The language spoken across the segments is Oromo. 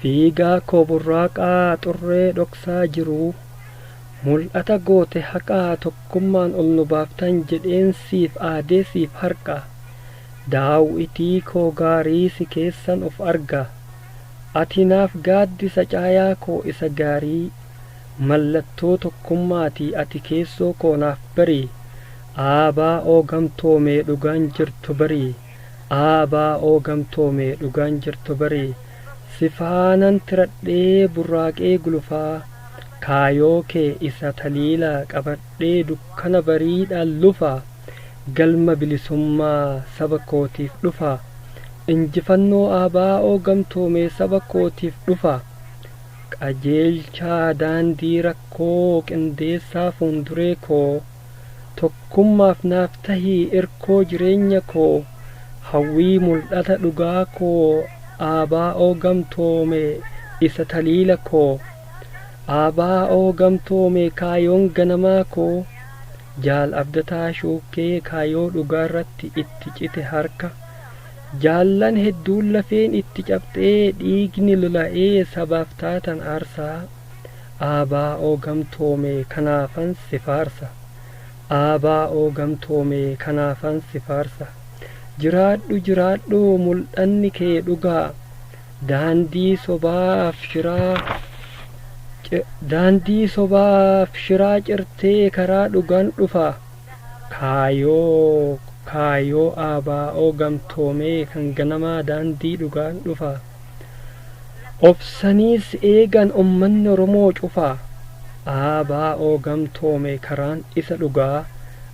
Fiigaa koo burraaqaa xurree dhoksaa jiruu mul'ata goote haqaa tokkummaan ol nu baaftan jedheen siif aadee siif harqa daaw'itii koo gaarii si keessan of arga Ati naaf gaaddisa caayaa koo isa gaarii, mallattoo tokkummaati ati keessoo koo naaf bari, ABO gamtoome dhugaan jirtu bari, ABO gamtoome dhugaan jirtu bari, si faanan tiradhee burraaqee gulufaa, kaayoo kee isa taliila qabadhee dukkana bariidhaan lufa. galma bilisummaa saba kootiif dhufaa injifannoo ABO gamtoomee saba kootiif dhufaa qajeelchaa daandii rakkoo qindeessaa fuunduree koo tokkummaaf naaf tahii irkoo jireenya koo hawwii muldhata dhugaa koo ABO gamtoome isa taliila koo ABO gamtoome kaayoon ganamaa koo Jaal Abdataa Shuukkee kaayoo dhugaarratti itti cite harka jaallan hedduun lafeen itti cabxee dhiigni lola'ee sabaaf taatan aarsaa ABO gamtoome kanaafan si faarsa ABO gamtoome kanaafan si faarsa jiraadhu jiraadhu muldhanni kee dhugaa Daandii sobaaf shiraa ci Daandii sobaaf shiraa cirtee karaa dhugaan dhufa Kaayoo Kaayoo ABO gamtoomee kan ganamaa daandii dhugaan dhufa Obsaniis eegan ummanni Oromoo cufa ABO gamtoome karaan isa dhugaa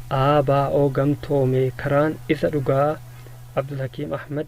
ABO gamtoome karaan isa dhugaa Abdulhakiim Ahmad.